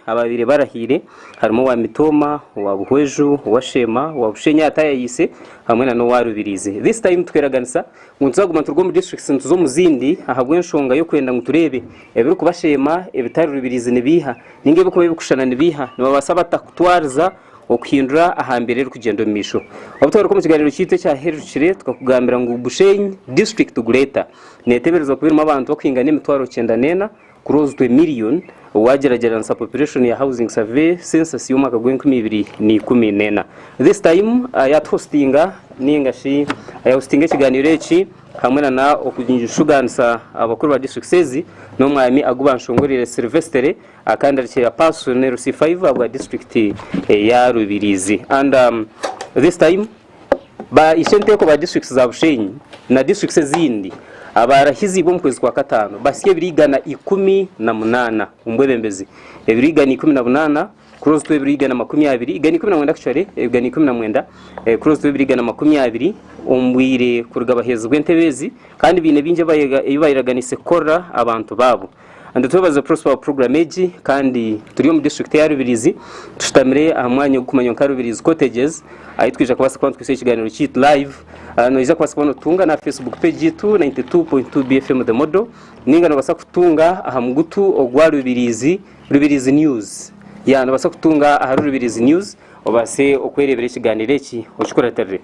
ababaire barahaire harimu owa mitooma owa buhweju owa sheema owa bushenyi atayayiise hamwe na n'owa rubiriizi this time tweraganisa ngu nituzaguma nituruga omu districts nituza omu zindi ahabw'enshonga y'okwenda ngu tureebe ebirikuba sheema ebitari rubiriizi nibiiha ninga ebirikuba birikushushana nibiiha nibabaasa bata kutwariza Okuhindura aha mbeera erikugyenda omu maisho. Obutagaruka omu kiganiro kyaitu ekyaherirekire, tukakugambira ngu Bushenyi District Gureta neteberezibwa kuba erimu abantu bakuhingana emitwaro kyenda n'ena, close to a million, wagyeragyeranisa population ya Housing Survey Census y'omwaka gwa enkumi ibiri na ikumi n'ena. This time ayatuhostinga ninga shi ayahostinga ekiganiro eki hamwe na na okushuganisa abakuru ba districts ezi n'omwami Agubanshongorire Silvestere, Akandarikira Pasu ne Rusi Faiva bwa district eya Rubirizi and um, this time ba ishe nteko ba districts za Bushenyi na districts ezindi abarahizibwe omu kwezi kwa katano basya ebiri igana ikumi na munana omu bwebembezi ebiri igana ikumi na bunana close to ebiri igana makumi abiri igana ikumi na mwenda actually igana ikumi na mwenda eh, close to ebiri igana makumi abiri omu bwire kuruga bahezibwe entebe ezi kandi biine bingi ebibayiraganise kukorera abantu babo Nitwebaza Prosper wa puroguramu egi kandi turi omu disiturikiti ya Rubirizi tushutamire aha mwanya ogurikumanywa nka Rubirizi Cottages ahi twija kubaasa kuba nitukwitsa ekiganiro kyaitu live ah, noija kubaasa kuba notutunga na Facebook page yaitu 92.2 BFM The Model ninga nobaasa kutunga aha mugutu ogwa Rubirizi Rubirizi News ya nobaasa kutunga ahari Rubirizi News obaase okwereebera ekiganiro eki okikuratirire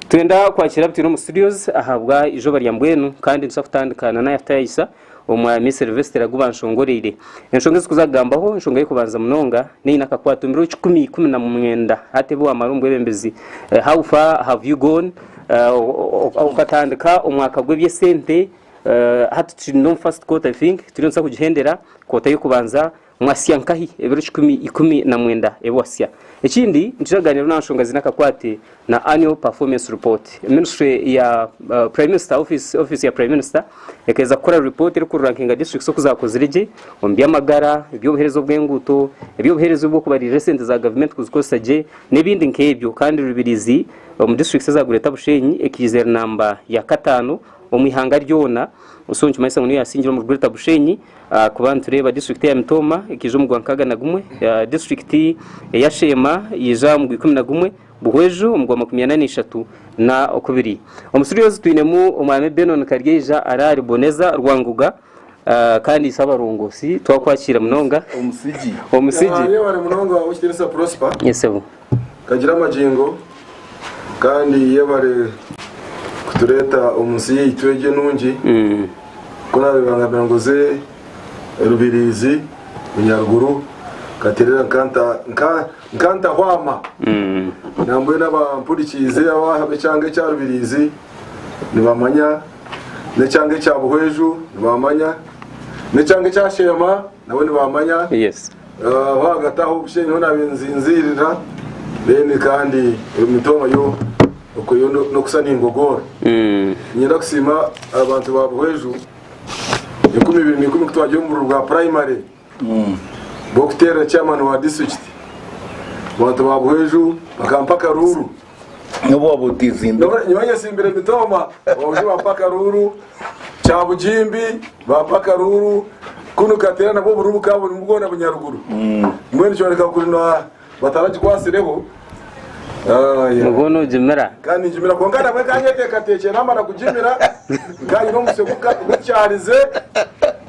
twenda kwakira abitwine omu studios ahabwa izooba rya mbwenu kandi nituza kutandika na Naya Tayisa Omwami Silvestre agu banshongoreire. Enshonga ezikuza kugambaho, enshonga y'okubanza munonga neine akakwate omu biro kikumi ikumi na mwenda hati ebi wamara omu bwebembezi. Eh, how far have you gone? Eh, o- o- o- okatandika omwaka gw'ebyesente eh, hati turi no mu first quarter I think turi nitusa kugihendera kota y'okubanza Mwasya nkahi ebiro kikumi ikumi na mwenda ebi wasya? Ekindi nituraganiraho na nshonga ziine akakwate na Annual Performance Report. Ministry ya Prime Minister, Office Office ya Prime Minister ekaheza kukora report eri kurankinga districts oku zakozire gye omu by'amagara, eby'obuhereza obw'enguuto, eby'obuhereza obw'okubariirira esente za gavumenti kuzikozesa gye n'ebindi nk'ebyo kandi Rubirizi omu districts eza Greater Bushenyi ekaize eri namba ya kataano omu ihanga ryoona so nikimanyisa ngu niyo yasingira omuri Greater Bushenyi. Ahakuba nitureeba disiturikiti ya Mitooma ekaija omu gwankaaga na gumwe, disiturikiti eya Sheema yaija omu gwikumi na gumwe, Buhweju omu gwamakumi ana naishatu na okubiri. Omu Siryozi twinemu Omwami Benon Karyaija ari ahari Boneza Rwangoga kandi itwe abarongosi twakwakiire munonga. Omusigi. Omusigi. Naareeba ari munonga w'Omukitinisa Prosper. Yes, Sebo. Kagira amagingo kandi yebare kutureta omu nsi yaitu egi enungi ku nareeba nka Birangoze Rubirizi Munyaruguru Katerera Nkanta Nka Nkanta Hwama nambwenu abampurikiize abe kyanga ekya Rubirizi nibamanya ne kyanga ekya Buhweju nibamanya ne kyanga ekya Sheema nabo nibamanya yes Aho hagati aho bushe nyowe naabaire ninzinziirira then kandi emitoma yo okwe yo no- n'okusa ningogoora ninyenda kusiima abantu ba buhweju enkumi ibiri n'ikumi ku twagire omuburiro bwa primary bw'okuteerera chairman wa district abantu ba buhweju bakampa akaruuru N'obu waaba otiizimbire. Nyowe nyowe nyesimbire emitooma obundi bampa akaruuru kyabugimbi bampa akaruuru kunu kateera nabwo oburuuru bukaba burimu bwona bunyaruguru mbwenu nikyoreka kuri na- bataragikwasireho Ah, yeah. nibwo nogimira kandi ngimira kwonka nabwe nkanyeteekateekire namara kugimira nkaayira omusyo guka- gukyarize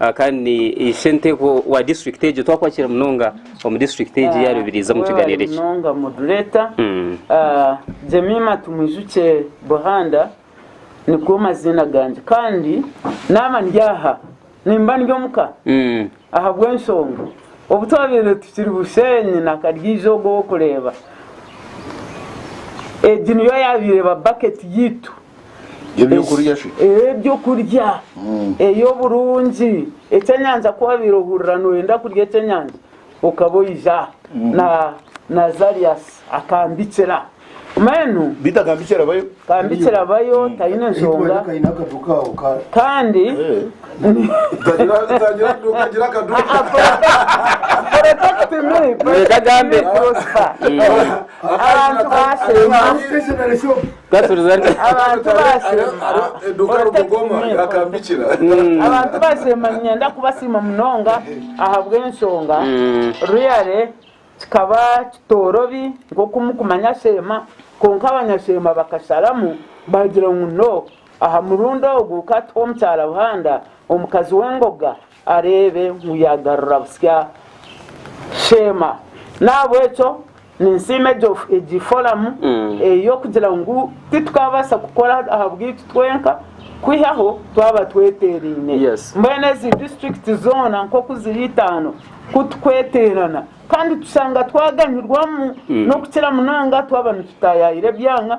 Ah, kandi ishe nteko wa district egyo twakwakira munonga omu district egi ya rubirizi omu kiganiro Webale eki munonga moderator Mm. Ah, jemima tumwijukye buhanda nigo maziina gangye kandi naaba ndi aha nimba ndi omuka Mm. ahabw'enshonga obu twabaire tukiri busheenyi na karyiija ogu ow'okureeba egi niyo yaabaire eba bucket yaitu Eby'okurya shi? Ee, eby'okurya. Ee, oburungi. Ekyenyanja ku wabaire ohurira nooyenda kurya ekyenyanja, okaba oija na Nazarius akambikira. Mbwenu. Beitu akambikira bayo. Akambikira bayo, taine nshonga. Kandi. Protect me. Protect me, Prosper. Abantu baashemba. Katuriza ati. Abantu baasiima niinyenda kubasiima munonga ahabw'enshonga Ruyare kikaba kitoorobi nk'oku mukumanya Sheema kwonka abanyasheema bakasharamu baagira ngu no aha murundi ogu ka tuhe omukyara Buhanda omukazi w'engoga. areebe ngu yaagarura butsya Sheema. N'ahabw'ekyo ninsiima egi foramu ey'okugira ngu titukaabaasa kukora ahabwaitu twenka kwihaho twaba tweteeraine. Mbwenu ezi disiturikiti zoona nk'oku ziri itaano ku turikweteerana kandi tushanga twaganyirwamu n'okukira munonga twaba nitutaayaayira ebyanga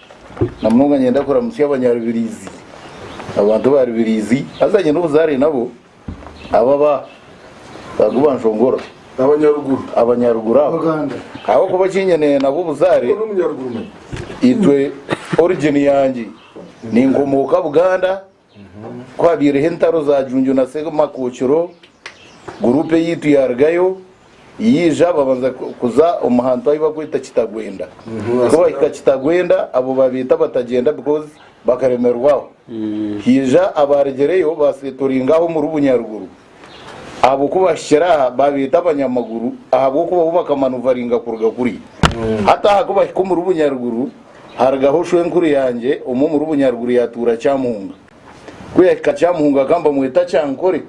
Na munonga niinyenda kuramutsya Abanyarubirizi, abantu ba Rubirizi, haza nyine obuzaare nabo, abo aba Bagu ba Nshongoro, Abanyaruguru abo, ahabw'okuba eki nyine nabo obuzaare, itwe origini yangye, ninkomooka Buganda, Ku habaireho entaro za Junju na Ssemakokiro, guruupu eyaitu yaarugayo yaija babanza kuza omu hantu ahu barikweta Kitagwenda. Ku baahika Kitagwenda abo baabeeta Abatagyenda because bakaremerwaho. Haija abaarugireyo baasetoringa aho omuri Bunyaruguru. ahabw'okuba baahikire aha baabeeta abanyamaguru ahabw'okuba bo bakaba nibaringa kuruga kuri. Hati aha ku bahika omuri Bunyaruguru, harugaho shwenkuru yangye omwe omuri Bunyaruguru yaatuura Kyamuhunga. Ku yaahika Kyamuhunga akaba nibamweta Kyankore.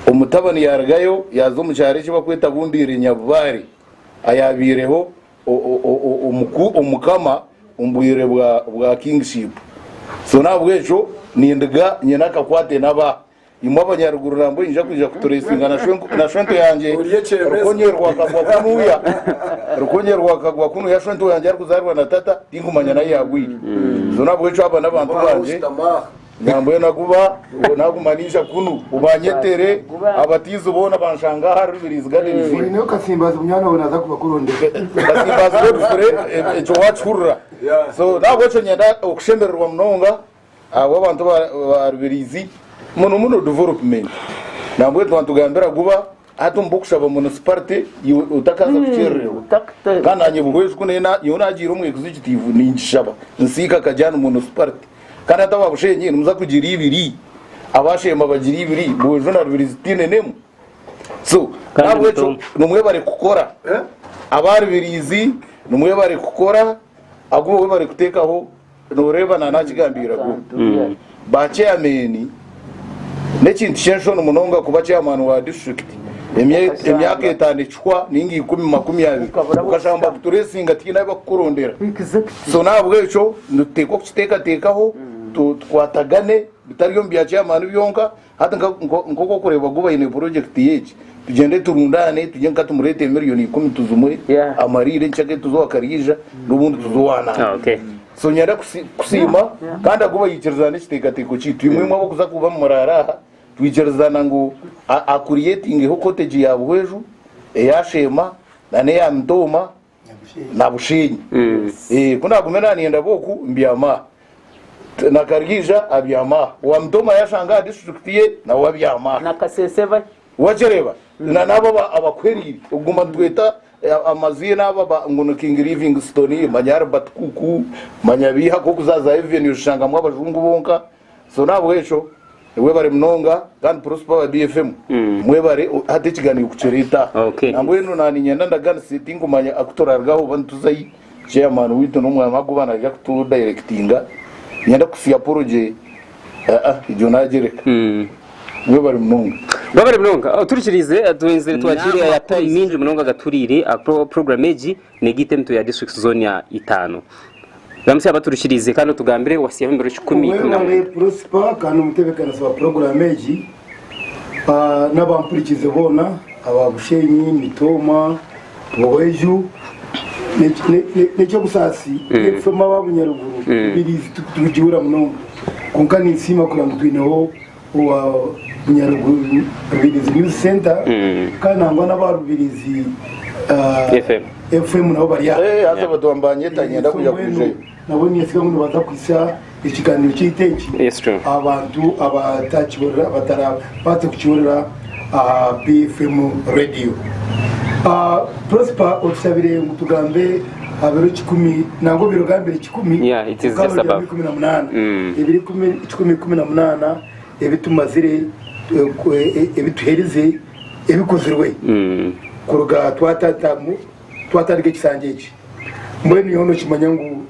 Omutabani yaarugayo yaaza omu kyaro eki barikweta Bundiire Nyabubaare ayaabaireho omukama omu bwire bwa Kingshipu. So n'ahabw'ekyo nindiga nyine akakwate na ba. Imwe abanyaruguru nambwo nyija kwija kuturesinga na shwento yangye Rukonye rwa kagwa kunuya Rukonye rwa kagwa kunuya shwento yangye arikuzarwa na tata tinkumanya nayi yagwire so nabwekyo aba nabantu bangye nambwo naguba naguma ninja kunu ubanyetere abatizi bona banshanga aha Rubirizi Gardens Oyineyo kasimbazi munywani wawe naza kuba kurondera kasimbazi webifure ekyo wakihurira so nabwekyo nyenda okushemererwa munonga Ahabwa abantu ba Rubirizi muno muno Development nambwa ebi twantugambira guba hati omu b'okushaba Municipality iwe otakaza kukyerererwa kandi nanye buhwezi ku neye nyowe nagiire omu ekizo ekitiifu ningishaba nsiika Kajani Municipality kandi hati aba Bushenyi nimuza kugira ibiri aba Shemba bagira ibiri Bwejo na Rubirizi tiine n'emwe so Kandi nahabwekyo bitombo. nimwebare kukora aba Rubirizi nimwebare kukora ahakuba webare kutekaho Noreeba nana akigambiira go ba chairman nekintu kyenshoni munonga kuba chairman wa district emyaka etano ekihwa ninga ikumi makumi abiri okashanga nibakuturesinga tihaine abakukurondera so nahabwekyo nituteekwa kukitekatekaho tukwatagane bitari omu bya chairman byonka Hati nk'oku okureebwa gu baine purojekiti y'egi, tugyende turundaane tugye nka tumureete miriyoni ikumi tuzimwe amariiro enki akeye tuze owa Kariija n'obundi tuze owa Naambi. So nyenda kusiima kandi agu baikiriza n'ekiteekateeko kyaitu. Imwe imwe ab'okuza kuba muraara aha, twikirizana ngu akuriyetingeho kotegi ya Buhweju, eya Sheema na n'eya Mitooma. nabusheenya Eh, ku naagumire naaniinda boku mbyama aha T- na Kariija abyama aha owa Mutoma yashanga aha disiturikiti ye nawe abyama aha na kasese bahi wakireba na nabo aba- abakuheriire okuguma nitweta eh, amaziina aba ba- ngu ni king livingstone manya albert kuku manya biiha nk'okuzaazayo venio oshangamu abajungu bonka So nahabwekyo webare munonga kandi prosper aba BFM mwebare o- hati ekiganiro kukireta Okay. nambwenu na ninyenda ndaganise tinkumanya akuturarugaho oba nituzayi chairman witu nomwana wagoba naija kutu directinga nyenda kusi apology ah ah egyo nagyereka mwebare munonga wabare munonga oturikiriize twenzire twakire N'amakuru. amakuru mingi munonga gaturiire aha pro- program egi negaita emitwe ya district zoona itaano. Ramutsya abaturikiriize kandi otugambire owasiyaho emirundi kikumi ikumi na mwenda. Obwengye Prosper kandi omutebeekanisi wa puroguraamu egi n'abampurikiize boona aba Bushenyi, Mitooma, Bweju n'eky'obusaasi n'ebifemu aba Bunyaruguru, Mbiriizi tubigihurira munonga kwonka ninsiima kureba ngu twineho owa Nyarubirizi News Centre kandi nangwa n'aba Rubirizi FM nabo bari aha. Nabo ninyetsiga ngu nibaza kuhitsya ekiganiro kyaitu eki aha bantu abatarabaase kukihurira. aha BFM Radio. Prosper otushabire ngu tugambe aha biro kikumi nangwa obwire ogambire kikumi Yeah, it is just okaba above. ikumi na munaana Mm. ebiro ikumi- kikumi ikumi na munaana ebitumazire eh, ku- eh, ebituherize ebikozirwe Mm. kuruga twatatamu twatandika ekisanja eki mbwenu nyowe nokimanya ngu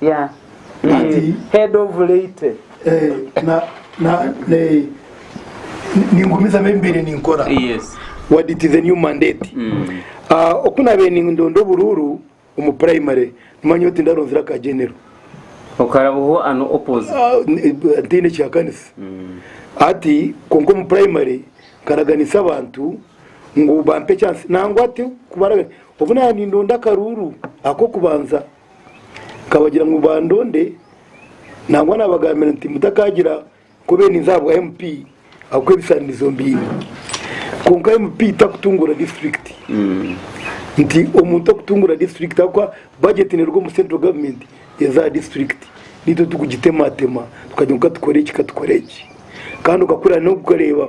Yeah. Ati- Eh, Head of late. Eh, na- na- ne- ningumiza abe mbaire ninkora Yes. what it is a new mandate Mm. Ah, oku nabaire nindonda oburuuru omu primary nimanya oti ndaronzire aka genero Okarabaho ano opposite. Ah, n- ntiine kyakanisa Mm. ati konka omu primary nkaraganisa abantu ngu bampe chance nangwa ati kubaraga obu naba nindonda akaruuru akokubanza Nkabagira ngu bandonde nangwa nabagambira nti mutakagira kubeninza ahabwa MP ahabw'okuba ebisanirizo mbiine. Kwonka MP takutungura disiturikiti. Nti omuntu takutungura disiturikiti ahabw'okuba bajeti neruga omu central government eza aha disiturikiti naitwe turikugitemaatemaa tukagira ngu katukore eki katukoreki. Kandi okakurira n'okureeba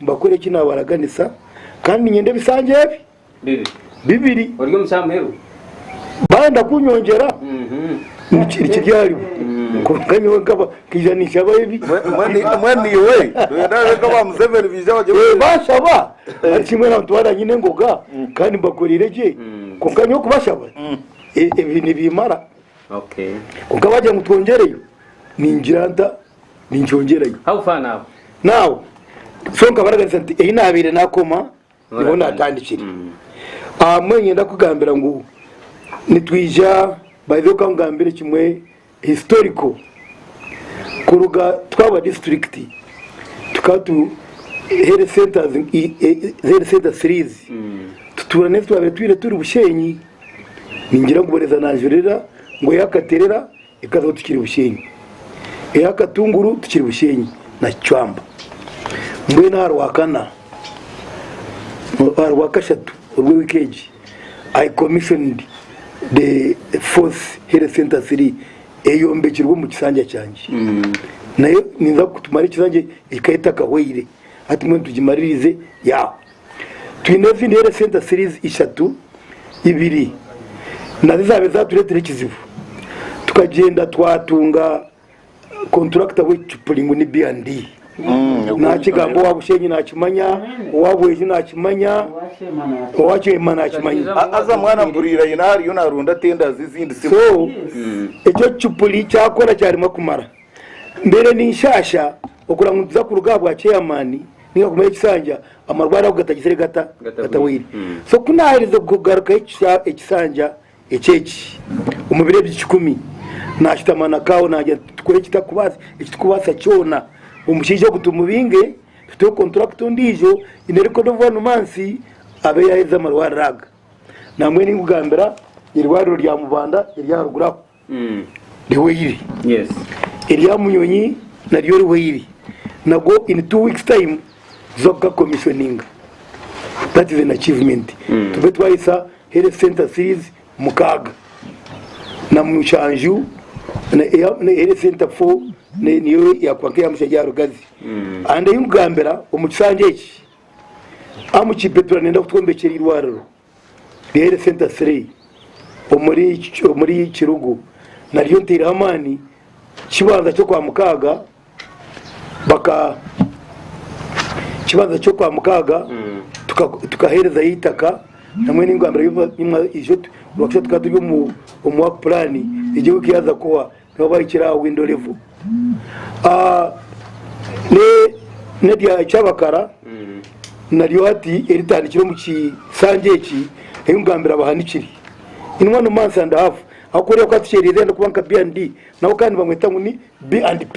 Mbakore eki naabaraganisa, kandi niinyenda ebisanja ebi bibiri. Baayenda kunyongyera, nikiri aharibo, kwonka nyowe nkaba nkaija ninshabaho ebi. Baanshaba nari shi mbwenu abantu baaba nyine engoga kandi mbakoreire gye, kwonka nyowe kubashaba ebi nibiimara. Kwonka baagira ngu twongyereyo, ningira nta? ninkyongyerayo How far now? now so nkaba naganiza nti eyi nabaire nakoma niho natandikire aha bumwe ninyenda kugambira ngu nitwija by the way kangambire kimwe historical kuruga twaba district tukaba tu health centers i- i- health center series tutuura n'ezi twabaire twine turi bushenyi ningira ngu boreza nanjurira ngu eyakaterera Ekazo tikiri busheenyi, eha katunguru tikiri busheenyi na kicwamba. Mbwenu aha Rwakana, aha Rwakashatu orw'ewiiki egi, I commissioned the fourth health centre city eyombekirwe omu kisanja kyangye. Nayo ninza kutumara ekisanja ekikaba etakahwaire, hati mbwenu tugimaririze yaaho. Twine ezindi Health Centre Series ishatu, ibiri nazo ezaabaire zaatureetera ekizibu tukagyenda twatunga kontulakita w'eki kipuri ngu ni B and D. Naakigamba owa Bushenyi naakimanya, owa Bwenju naakimanya, owa Kyema naakimanya. Haza mwana mpuriire aine ahu ariyo naaronda tenda z'ezindi simu. So, ekyo ekicupuri kyakora kyaremwa kumara. Mbeire ninshaasha okuranguruza kuruga aha bwa chairman ninga kumayo ekisanja amarwaro ago gatagizire gata gataboire so ku naherize kugarukaho ekisanja eki eki omu biro ebyo kikumi nashutama na kawe nagira nti tukore ekitukubaasa kyona omushaija ogu tumubinge tuteho contract ondiijo in a record of one month abe yaherize amarwariro aga nambwenu nkugambira eirwariro rya Mubanda eryaharuguru aho. rihweire erya munyonyi naryo rihweire nago in two weeks time tuza kuga commissioninga that is an achievement tube twahisa health center series mukaaga na mushanju health center four niyo yakuba nkeya mushanju aha rugazi and ahi nkugambira omu kisanja eki amu kibetura nenda kutwombekyera eirwariro Health Centre Three omuri Kirugu nariyo nteireho amaani kibanza ky'okwamukaaga baka kibanza ky'okwamukaaga tukaherezayo eitaka namwe ningambira tukaba turi omu work plan egyo wiiki yaza kuhwa N'obu ahikire aha window level n'erya Kyabakara naryo hati eritandikire omu kisanja eki ebi nkugambira bahanikire in one month and half ahabw'okureeba ku hati kyereriira kuba nka B and D nabo kandi nibamweta ngu ni B and P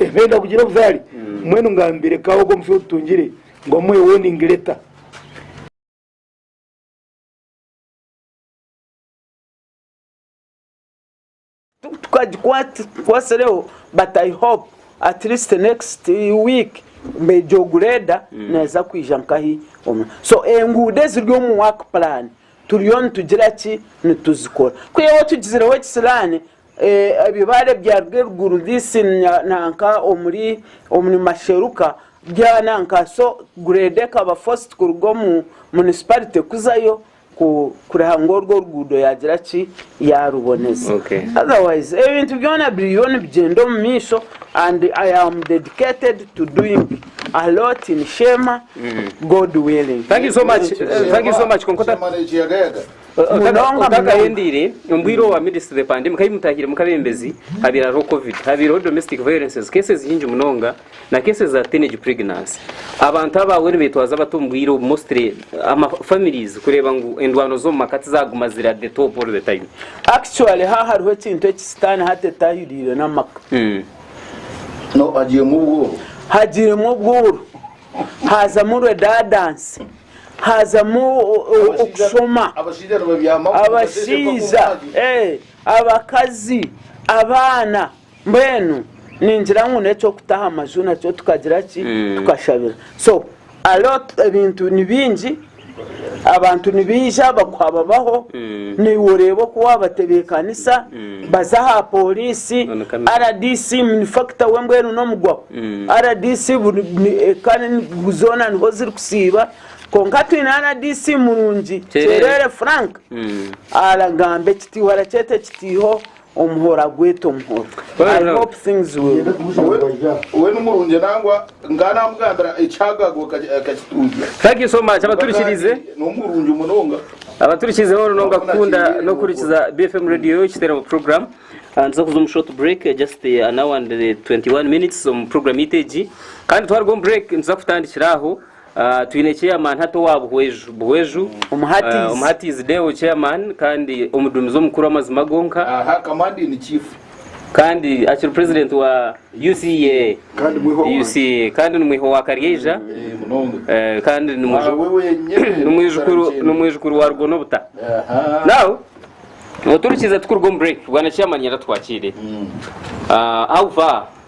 nibenda kugira obuzaare mbwenu ngambire ka ogwo omusyo otutungire ngu amuhe warning letter. tukwatsireho but i hope at least next week mbeija ogu reda mm. neza kwija nkahi so enguudo eziri omu work plan turiyo nitugira ki nituzikora kuyewe tugizireho ekisiraani eh, ebibaare byaruga eruguru this nanka omuri omuri masheruka byananka so grade ekaba forced kuruga omu municipality kuzayo kureha ngu orwo oruguudo yaagira ki, yaaruboneza. Otherwise ebintu byona biriyo nibigyenda omu maisho and I am dedicated to doing a lot in Sheema, God willing. Thank you so much. Thank you so much. Kwonka ota- Sheema n'ekiyagayaga. ota- Munonga, munonga. otakahendeire, omu bwire obwa midst of the pandemic, ahi mutaahiremu nk'abeebembezi, habaire hariho covid, habaireho domestic violences, cases nyingi munonga, Na cases za teenage pregnancy abantu abaawe nibeetwaza bata omu bwire obu mostly ama families kureeba ngu endwano z'omu maka tizaguma ziri at the top all the time. Actually ha hariho ekintu eki sitaane hati etahiriire n'amaka. No hagiiremu obworo. Hagiiremu obworo, haazamu redundancy, haazamu okushoma, Abashaija nibabyamaho. abashaija, eh, abakazi, abaana. Mbwenu ningira ngu n'eky'okuta aha maju nakyo tukagira ki? Tukashabira. So, a lot, ebintu ni bingi, abantu nibaija bakuha babaho, naiwe oreeba oku waabatebeekanisa, baza aha pooriisi, rdc ni factor we mbwenu n'omugwaho. Rdc buri, ni, eka ni, zoona niho zirikusiiba. Kwonka twine rdc murungi, kyereere, frank, aragamba ekitiiho arakyeta ekitiiho, Omuhoro agweta omuhoro. I hope things will We numurungi nangwa nkaba namugambira ekyagagwa akakitundya. Thank you so much abaturikirize nomurungi munonga. Abaturikirize hoona nonga kukunda nokuhurikiza BFM radio ekiteramo program. Nituza kuza omu short break just an hour and 21 minutes omu program yaitu egi. Kandi twaruga omu break nituza kutandikira aho. Twine Chairman hati owa Buhweju Buhweju, Omuhatiizi Deo Chairman kandi Omuduumizi Omukuru w'Amazima Gonka, kandi akiri President wa UCEA kandi ni mwiha owa Karyeija kandi ni mwijukuru wa Rugo n'Obuta. Now oturikiize tukuruga omu break, Bwana Chairman Nyaratu Twakyeire, how far?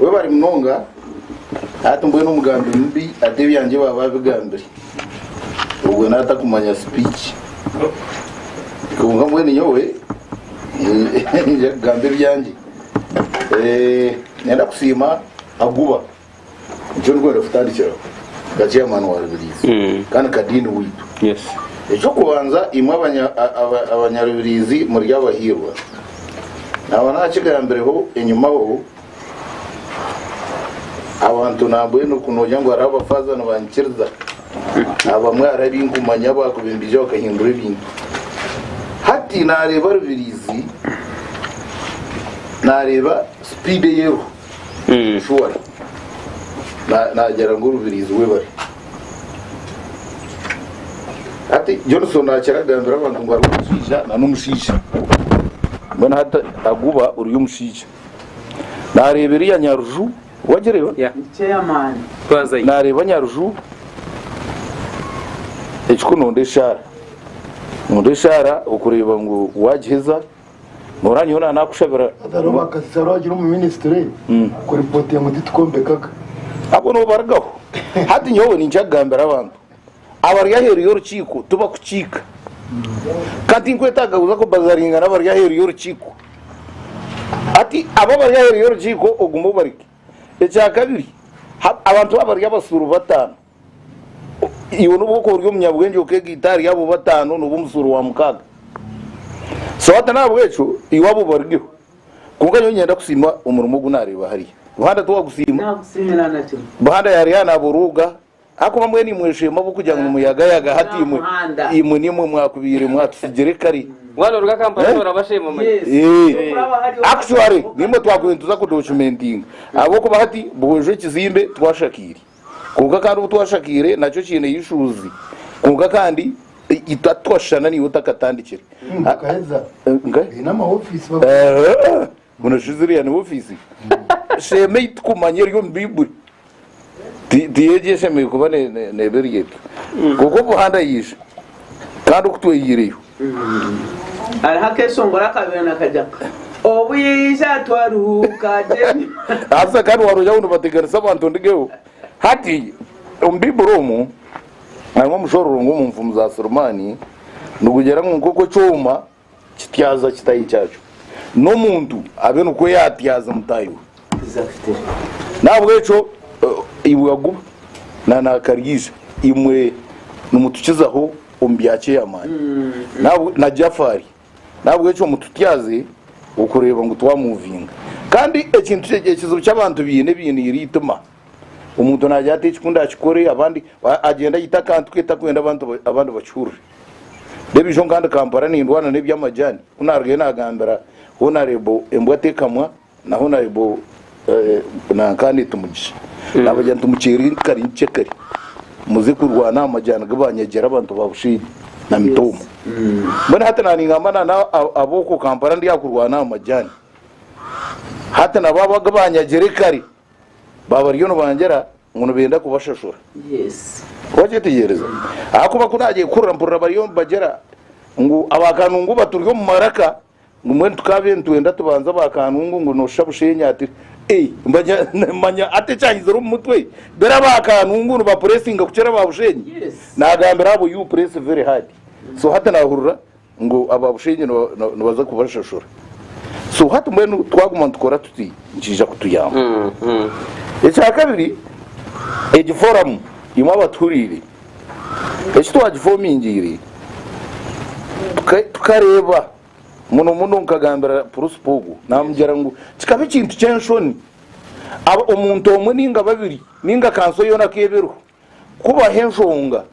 Webare munonga hati mbwenu omugambi mubi ata ebyangye baba abigambire obwo nata kumanya speech kwonka mbwenu nyowe ninja kugamba ebyangye nenda kusiima Aguba nikyo ndikwenda kutandikiraho nka chairman wa Rubirizi kandi nka Dean waitu ekyokubanza imwe abanyarubirizi muri abahiirwa Naaba naakigambireho enyimaho, abantu nambwenu ku noogira ngu hariho abafaaza nibanyikiriza, abamwe hariho ebi nkumanya abakuba embiija bakahindura ebintu. Hati naareeba Rubiriizi, naareeba sipiidi ei eriho. Shuwa naagira ngu orubirizi webare. Hati Johnson akira kugambira abantu ngu hariho omushaija na n'omushaija. Mbwenu hati aguba ori omushaija. Naareeba eriya Nyaruju, wagireeba? Naareeba Nyaruju ekikunoonda eshaara. Noonda eshaara okureeba ngu waagiheza. Noora nyowe na nakushabira. Hazaroho ba kasisaro agira omu ministry mm. kuripotinga ngu titukombekaga abo nobarigaho hati nyowe ninkya kugambira abantu abari aheeru y'orukiiko tibakukiika kandi tinkwetaaga kuza kubazaringa n'abari aheeru y'orukiiko ati abo abari aheeru y'orukiiko ogume obareke ekyakabiri abantu abari abasuuru bataano iwe nobu okuba ori omunyabwengye okegaita ahari abo bataano noba omusuuro wa mukaaga so hati nahabwekyo iwe abo baryo kwonka nyowe nyenda kusiima omurimo ogu nareeba hariya buhanda tiwagusiima buhanda yari aha naborooga hakuba mbwenu imwe esheema ahabwokugira ngu nimuyagayaga hati imwe imwe nimwe mwakubaire mwatusigire kare actually nimwe twakubaire nituza kudocumentinga ahabwokuba hati buhwejo ekizimbe twashakaire Kwonka kandi obu twashakaire nakyo kiine eishuuzi. Kwonka kandi hati twashushana naiwe otakatandikire. Baine ama ofiisi bagumiire. Buna shi ziriya ni ofiisi? Sheema ei tukumanya eri omu Baibuli ti egyo eshemereire kuba neeba eri egyo. Kwonka omuhanda yaija kandi oku twaihireyo. Hariho akeshongoro akabaire nakagira kati, Obwija twaruhuka gyenyu. Haza kandi wari ojaho nibateganisa abantu ndigeho. Hati omu Bibuli omu harimu omushororo ngu omu nfumu za Sulemani nigugira ngu nk'oku ekyoma kityaza kitaahi kyakyo, n'omuntu abe nikwo yatyaza mutaahi we. Nahabwekyo iwe aguba na nakaryiza imwe nimutukizaho omu bya kyeyamani na Jafari nahabwekyo mututyaze okureba ngu twa muvinga kandi ekintu ekizibu kyabantu biine biine eri itima omuntu nagya ata ekikunda akikore abandi agyenda ayite akantu ke takwenda abantu abandi bakihurire reba ijo nka ndi Kampala nindwana nebyamajani kunarugeyo nagambira honarebo embwa tekamwa. Naho na Yobu nanka nitumugisha. Nabagira nti Mukyeri kari nkye kari muze kurwana aha majani gi banyagira abantu ba Bushenyi na Mitumba. Mbwenu hati na ningamba na na ab'oku Kampala ndi aha kurwana aha majani. Hati na bo abo agi banyagire kare ba bariyo nibangira ngu nibenda kubashashura. Wakyetegyereza? Ahakuba ku nagyehurira mpurira bariyo nibagira ngu aba Kanungu baturi omu maraka Ngu mbwenu tukaabye nitwenda tubanze aba Kanungu ngu noshusha Bushenyi ati Eeh manya ati ekyahizire omu mutwe bera aba Kanungu niba pressinga kukira aba Bushenyi nagambira abo you press very hard so hati nahurira ngu aba Bushenyi nibaza kubashashura so hati mbwenu twaguma nitukora tuti nikiija kutuyamba. Ekyakabiri egi forum imwe abatuhuriire Eki twagifoomingiire tukareeba muno muno nkagambira purusipo ogwo naamugira ngu kikaba ekintu ky'enshoni omuntu omwe nainga babiri nainga kanso yoona ku eba eriho kubaho enshonga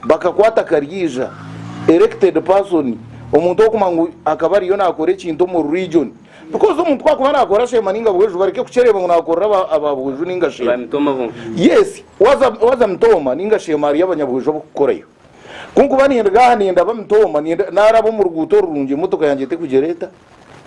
bakakwata karyaija, erected person, omuntu orikumanywa ngu akaba ariyo naakora ekintu omuri riijoni. Because omuntu ku akuba nakora shema ninga bweju bareke kukyereba ngu nakorera aba aba bweju ninga shema. Yes waza waza mitooma ninga shema hariyo abanyabweju abukukorayo. Kunkuba nindiga aha nenda aba mitooma ninda naraba omu ruguuto orurungi emotoka yangye etekugyera eta?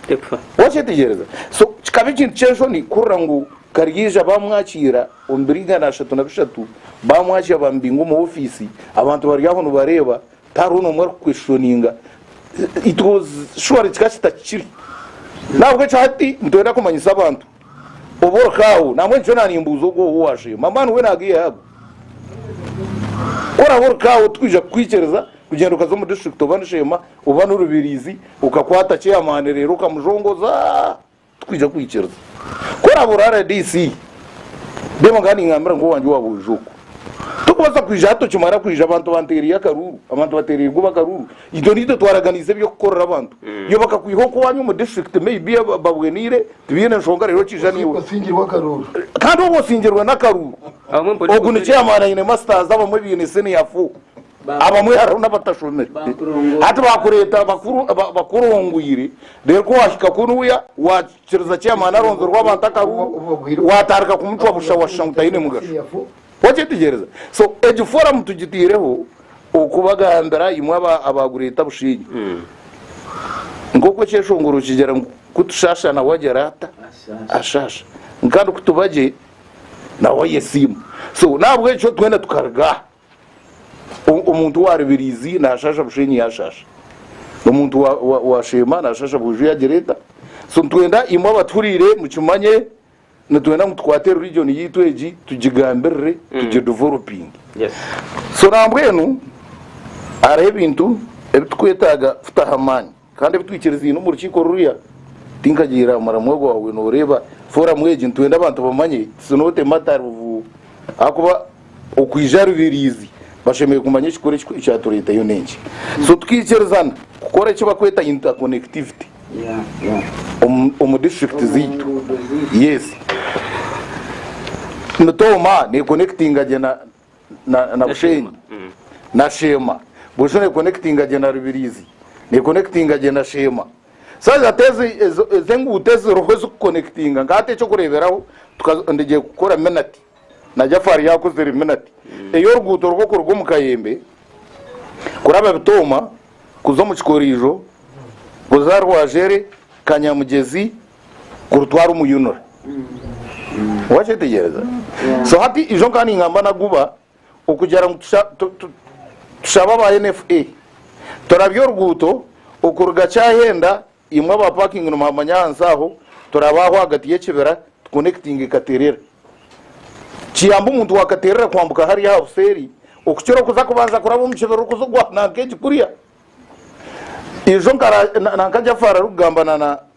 Tekufa. Wakyetegyereza? So kikaba ekintu kyenshoni kuhurira ngu Karyaija bamwakiira omu biriga na ashatu na bishatu bamwakya bamubinga omu office abantu bari aho nibareba. Tihariho n'omwe arikukweshoninga. It was surely kika kita kikiri. Nahabwekyo hati nitwenda kumanyisa abantu obu orikaaho. Nambwenu nikyo naanimbuuza ogwo ou waasheema. A man when a gear hub. Ku oraabe orikaaho tikwija kukwikiriza kugyenda okaza omu district oba ni Sheema oba ni Rubirizi okakwata chairman reero okamujongoza. Tikwija kuhikiriza. Ku oraabe ori rdc, reeba nk'aha ningambira nk'owangye owa bwojo oku. Torikubaasa kwija aha tokimara kwija abantu banteereire akaruuru, abantu bateereire kuba akaruuru, itwe niitwe twaraganiise eby'okukorera abantu. Iwe bakakwiha oku owaanyu omu disiturikiti may be babweniire tibaine nshonga reero okiija naiwe. Osingirwe akaruuru. Kandi oba osingirwe n'akaruuru, ogu ni chairman aine masters abamwe baine senior four. Abamwe hariho n'abatashomire. Hati baakureeta bakurongwire, reero ku waahika kunuya waakiriza chairman aronzerwe abantu akaruru, waatandika kumucwa busha washusha ngu taine mugasho. Wakyetegyereza? So egi forum tugiteireho okubagambira imwe aba Greater Bushenyi nk'oku ekyeshongoro kigira ngu ku tushaasha nawe agira ata? Ashaasha. Kandi ku tuba gye nawe ayesiima. So n'ahabw'ekyo twena tukaruga aha. Omuntu wa Rubirizi nashasha Bushenyi yashasha. Omuntu wa, wa, wa Sheema nashasha Bwiju yagira eta. So nitwenda imwe abatuhuriire mukimanye nitwenda ngu tukwate religion yaitu egi tugigambirire mm. tugideveloping yes. so nambwenu hariho ebintu ebitukwetaaga kutaho amaani Kandi ebi twikiriziine omu rukiiko ruriya, tinkagiihirira aha muramwa ogwo waabaire nooreeba fooramu egi. Nitwenda abantu bamanye tsi noote mata ovu, ahakuba okwija aha Rubiriizi bashemereire kumanya ekikuru ekyatureetayo n'enki. So tukaikirizana kukora eki barikweta interconnectivity omu disiturikiti zaitu. Yes, Mutoma nekonekitinga gye na. na, na Bushenyi na Sheema burijo nekonekitinga gye na Rubirizi nekonekitinga gye na Sheema saazi hati ezo ezo ezo enguuto eziriho ezikukonekitinga nka hati ekyokureeberaho tuka- ndigye kukora minati na Jafari yakozire minati ey'oruguuto rwo kuruga omu Kayembe kuraba Bitooma kuza omu Kikoriijo kuza Rwajere Kanyamugyezi kurutwara omuyunura wakyetegyereza so hati ijo nkaba ningamba naguba okugira ngu tusha- tu- tu- tushabe aba nfa turabye oruguuto okuruga kyahenda imwe aba parking nimuhamanya ahansi aho turabe aho ahagati y'ekibira tukonekitinge katerera kiyambe omuntu wa katerera kwambuka hariya aha buseeri okukira okuza kubanza kuraba omu kibira orikuza ogwa nanka egi kuriya ijo nkara- na- nanka jafari arikugamba na- na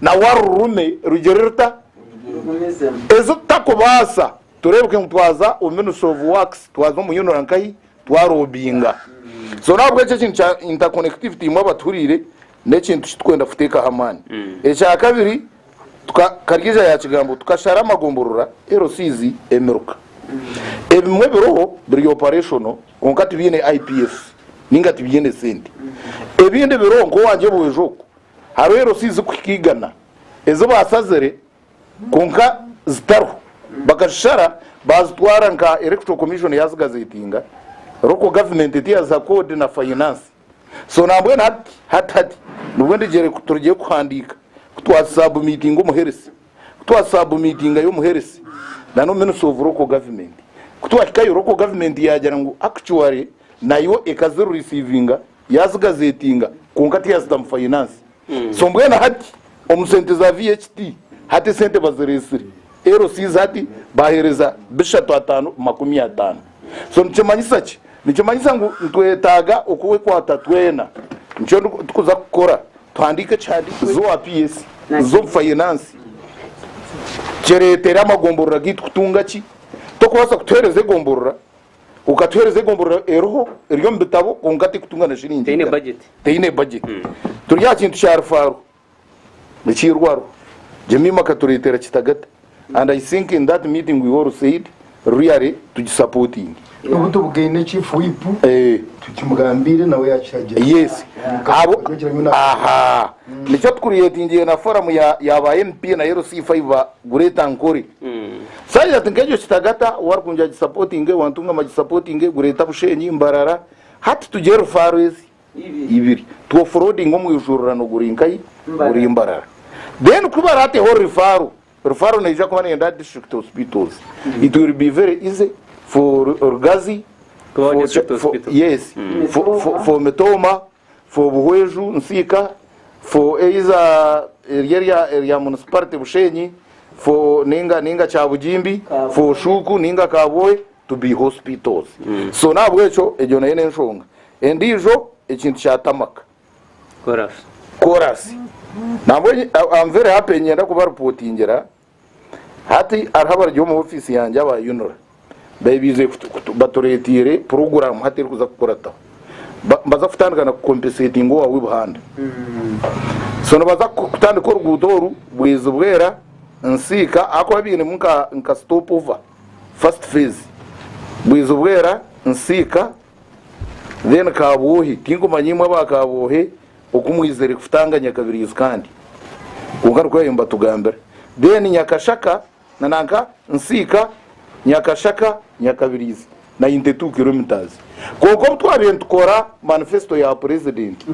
na wa rurume rugyere ruta? Ezo tutakubaasa, tureebeke ngu twaza omu Ministry of Works, twaza omu UNRA nkahi? Twaroobinga. So n'ahabw'ekyo ekintu kya interconnectivity imwe abatuhuriire n'ekintu kitukwenda kuteekaho amaani. Ekya kabiri, tuka, Kariija yaakigamba, tukashara amagomborora, LCs, emiruka. Ebimwe biriho biri operational kwonka tibiine IPS nainga tibiine sente. Ebindi biriho nk'owangye Bwejo oku, Hariho erosi zirikuhika igana ezi baasazire kwonka zitariho bakazishara baazitwara nka Electoral Commission yaazigazeetinga, Local Government tiyaziha koodi na fayinaansi. So nambwenu hati hati hati nibwo ndigyere ku turugire kuhandiika ku twazisabumiitinga omuheresi, ku twazisabumiitingayo omuheresi nana Ministry of Local Government. Ku twahikayo Local Government yaagira ngu actually nayo ekazirisiivinga. Yaazigazeetinga kwonka tiyaazitamu fayinaansi. So mbwenu hati omu sente za VAT, hati esente bazireetsire LCs hati baaheereza bishatu ataano makumi ataano. So nikimanyisa ki? Nikimanyisa ngu nitwetaaga okwekwata twena. Nikyo turikuza kukora, tuhandiike ekihandiiko eki. Z'owa PS, z'omu fayinaansi, kireetere amagomborora gaitu kutunga ki? Torikubaasa kutuheereza egomborora okatuheereza egomborora eriho eri omu bitabo kwonka tekutunga na shiringi Teine igana. budget. teine budget turi aha kintu kya rufaru ekiirwaru jemima akatureetera kitagata and i think in that meeting we all said really tugisupporting N'obu tubugaine chief whip Eh. tukimugambiire nawe yakiragira yes abo Kugira ngu na- aha nikyo tukureetingiire na forum ya ya ba mp na LC5 ba Great Ankore Side ati nka egyo kitagata wari kungira agi supportinge wantungama agi supportinge gureta bushenyi mbarara hati tugire rufaro ezi ibiri two frodinge omwijurirano guri nkai guri mbarara then ku barateho rifaro rifaro neija kuba neyenda aha district hospitals it will be very easy for rugazi Kubaho for, district Ch- for, hospital. yes for, for, for mitoma for Buhweju Nsiika, for either eri erya erya municipality Bushenyi, for ninga ninga Kyabugimbi, for Shuuku ninga Kabwohe to be hospitals. So n'ahabw'ekyo egyo nayo n'enshonga. Endiijo ekintu kya tarmac. Chorus. Chorus. Nambwenu, I- I'm very happy niinyenda kubareportingira Hati hariho abari omu ofiisi yangye aba UNRA baize batureeteire puroguraamu hati erikuza kukurataho. Nibaza kutandika na kukompeseetinga owaawe Buhanda. So nibaza kutandika oruguuto oru Bwezi Bwera Nsiika ahakuba bainemu nka stop over first phase. Bwezi Bwera, Nsiika then Kabwohe. Tinkumanya imwe aba Kabwohe Oku mwizire kutanga Nyakabirizi kandi kwonka nikwo yayomba tugambire then Nyakashaka na nanka Nsiika Nyakashaka Nyakabirizi nayo Ntetu kilometres kwonka obu twabire nitukora manifesto ya purezidenti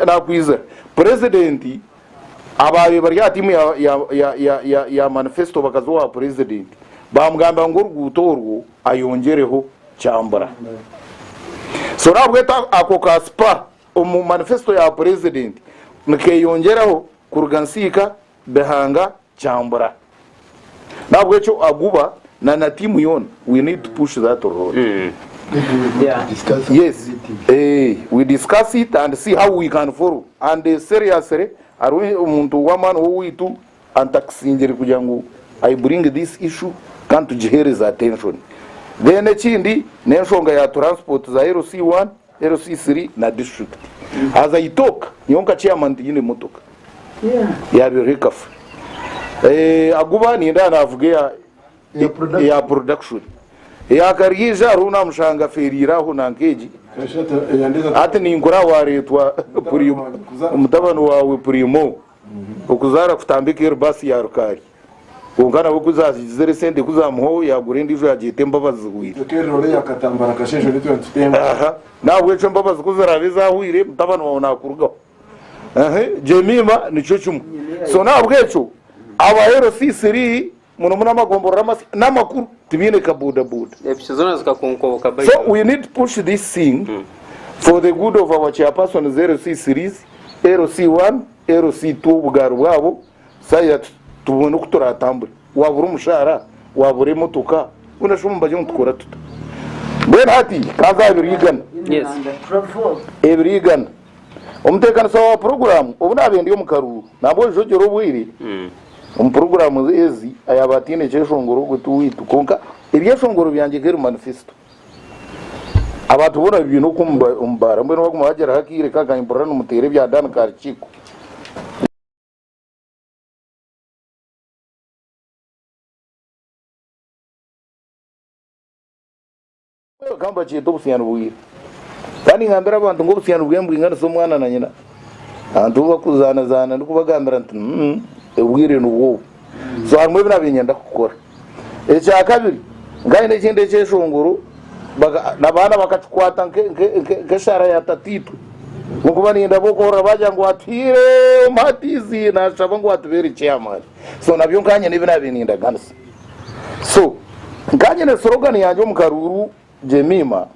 nakwizira purezidenti ababire bari aha tiimu ya manifesto bakaza owa purezidenti bamugambira ngu oruguuto orwo ayongyereho kyambura so nahabwekyo ako ka spur omu manifesto ya purezidenti nikeyongyeraho kuruga nsiika bihanga kyambura nahabwekyo aguba na na tiimu yoona we need to push that road yes eh, we discuss it and see how we can follow and seriously hariho omuntu w'amaani w'owaitu And takusingire kugira ngu I bring this issue kandi tugihereze attention. Then ekindi n'enshonga ya transport za LC one, LC three na district. As I talk nyowe nka chairman tinyine motoka yabeho ekafa. Eh Aguba ninde aha navuga eya eya production. Eya Karyeija hariho owu namushanga aferire aho nanka egi. Hati ninkora aha waretwa Primo, mutabani wawe Primo. Okuzaara kutambika eri baasi ya rukaari kwonka nabwo ku zaagize eri sente ku zaamuhwaho yaagura endiijo yaagyeta embabazi zihweire. Aha, n'ahabw'ekyo embabazi ku ziraabe zaahweire mutabani waawe naakurugaho. Aha, Jemiima nikyo kimwe. So n'ahabw'ekyo aba LCC ri munonga amagomborora amasya namakuru tibiine ka boda boda epichi zona zikakonkoboka by so we need push this thing for the good of our chairpersons LC series LC 1 LC 2 obugaari bwabo saya tubone oku turatambure wabura omushara wabura emotoka bona shomu bagye ngu tukora tuta mbwenu hati kanza aha biri igana yes ebiri igana Omuteekanisa wa puroguraamu obu naaba endi omu karuuru nambwa ojogyera obwire omu puroguraamu ezi ayaaba ataine kyeshongoro ogwe ti owaitu kwonka ebyeshongoro byangye nk'eri manifesito abantu boona bibiine oku omu baara mbwenu baguma bagyeraho akaire ka kahi mpurira nimuteera ebya Dan Karikiko. Bakaba nibakyeta obusiyaani bw'ira. Kandi ngambira abantu ngu obusiyaani bw'embwinganisa omwana na nyina. Abantu bu bakuzaanazaana ndikubagambira nti, Umm, obwire nibwo obu. So harimu ebi naabaire niinyenda kukora. Ekya kabiri, nkaba nyine ekindi ekyeshongoro, abaana bakakikwata nk'eshara ya tataitwe. Kunkuba niinyenda b'okuhurira baagira ngu atuhaire omumatizi, naashaba ngu atubeere chairman. So nabyo nkaba nyine ebi naabaire nindaganisa. So nkanyine slogan yangye omu karuuru Jemima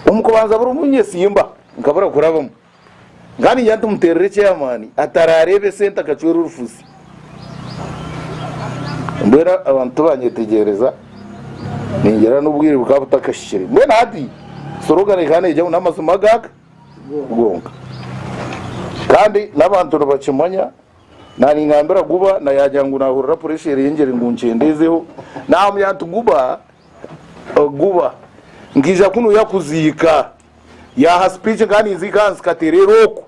omu kubanza buri omu nyesimba nkabura kurabamu nkaningira nti muterere chairman atarareba esente akacwera orufuzi mbwenu abantu tibanyetegyereza ningira n'obwire bukaba butakahikire mbwenu hati slogan ekaba neija ngu n'amazima gaka gonka kandi n'abantu nibakimanya Naaningambira Guba na yaagira ngu naahurira puresha erengyere ngu nkyendezeho. Naamubwira nti, Guba, Guba, nkaija kunu yakuziika. Yaaha sipiiki nkaba ninziika ahansi katereera oku.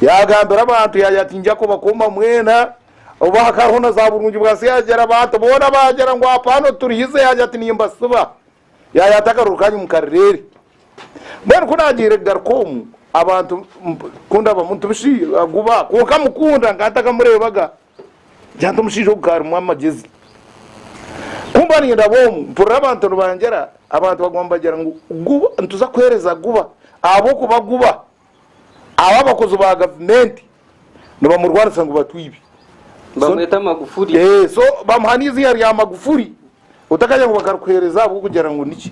Yaagambira abantu yaagira ati, Ngya kubakoma mwena. Obu hakariho na zaaburungibwansi yaagira abantu boona baagira ngu, Apaano turihize. Yaagira ati, Nimbasiba. Yayata akaruru kanyu mukarirere. Mbwenu ku naagiire kugaruka omu abantu ku ndaba muntu bushi aguba kwonka amukunda nka ntakamureebaga ngira nti omushaija ogu ka arimu amagezi. Ku mba nindaba omu mpurira abantu nibangira abantu baguma nibagira ngu guba nituza kuheereza guba ahabw'okuba guba. Aho abakozi ba gavumenti nibamurwanisa ngu batwibi. Bamweta Magufuli. Eeh so bamuha neiziina rya Magufuli otakagira ngu bakarukuhereza ahabwokugira ngu niki.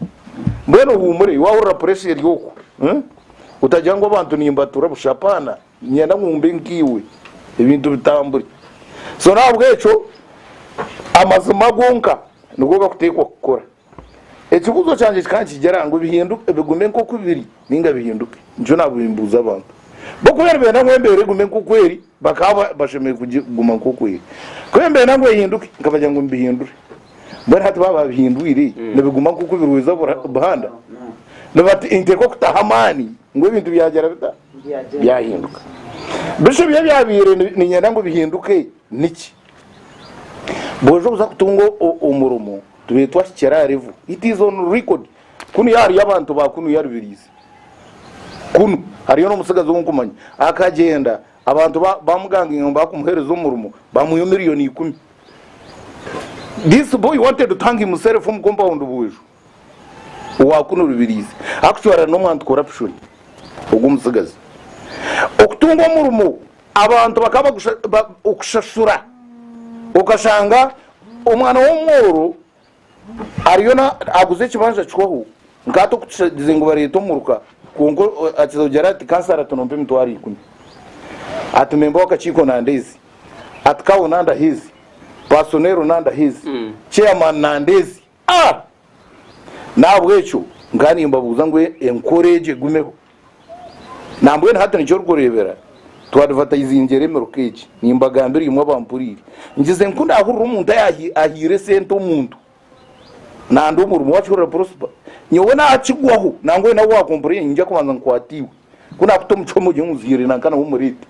Mbwenu ohumure iwe wahurira pressure eri okwo otagira ngu abantu nimbatura busha apana ninyenda ngu mbe nkaiwe ebintu bitambure. So nahabwekyo amazima gonka nigo gakutekwa kukora. Ekibuuzo kyangye kikaba nikigira ngu bihinduke, bigume nk'oku biri nainga bihinduke? Nikyo naaba nimbuuza abantu. Bo ku baaba nibenda ngu embeera egume nk'oku eri, bakaba bashemereire kuguma nk'oku eri. Ku baaba nibenda ngu ehinduke, nkabagira ngu mubihindure. Mbwenu hati baaba baabihindwire, nibiguma nk'oku biri waija buhanda? Ninteeka okutaho amaani ngu ebintu byagira bita? Byahinduka. Bishusha ebi ebyabaire niinyenda ngu bihinduke niki? Bwooza kuza kutunga omurimo. Tureetwa ahi kiri aha revo. It is on record. Kunuya hariyo abantu ba kunuya Rubirizi. Kunu hariyo n'omutsigazi ou nkumanya. Akagyenda abantu ba- bamuganginga ngu bakumuheereza omurimo bamuha emiliyoni ikumi. This boy wanted to hang himself omu compound Buuju. Owa kunu Rubirizi. Actually ari n'omu anti-corruption. Ogu omutsigazi. Okutunga omurimo. Abantu bakaba okushashura okashanga omwana w'omworo ariyo aguza ekibanja kihweho nkahati okukigize ngu bareete omuruka kwonka akiza kugira ati kansara ati nompa emitwaro ikumi ati memba w'akakiiko nandeezi ati kawo nandaha ezi paasonero nandaha ezi chairman nandeezi A! N'ahabw'ekyo nkaba nimbabuuza ngu enkora egyo egumeho. Nambwenu hati nikyo orikureebera twadvataizingyera emiruka egi. Nimbagambira imwe abampuriire, ngize nku naahurira omuntu ayaahaire esente omuntu, nandi omurimo wakihurira Prosper, nyowe naakigwaho nangwa oine ou waakomporaire, niinyija kubanza nkwate iwe. Ku naakuta omu kihome ogire ngu nzihirire nanka na w'omureete.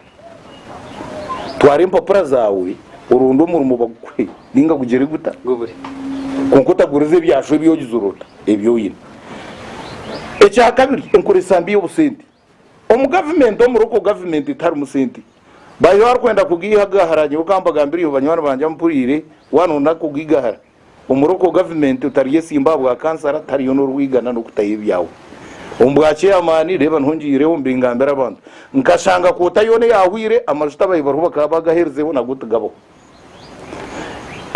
Twara empapura zaawe oronde omurimo bagukuhe nainga gugire guta? Kwonka otagurize ebyashwa ebi ogizire ota ebi oine. Ekya kabiri, enkoresa mbi y'obusente. Omu gavumenti, omu Local Government etiharimu sente. Baiha orikwenda kugaiha, gaahara. Nyowe ka mbagambire, iwe banywani bangye abu mpuriire, waaba nooyenda kugigahara, Omuroko gavumenti otaryesimba aha bwa kansara tariyo norwigana nokutayo ebyawe omu bwa ceyamaani reeba niho ngiireho mbingambire abantu nkashanga koota yoona eyahweire amajuta abaayi bariho bakaba bagaherizeho nago tigabaho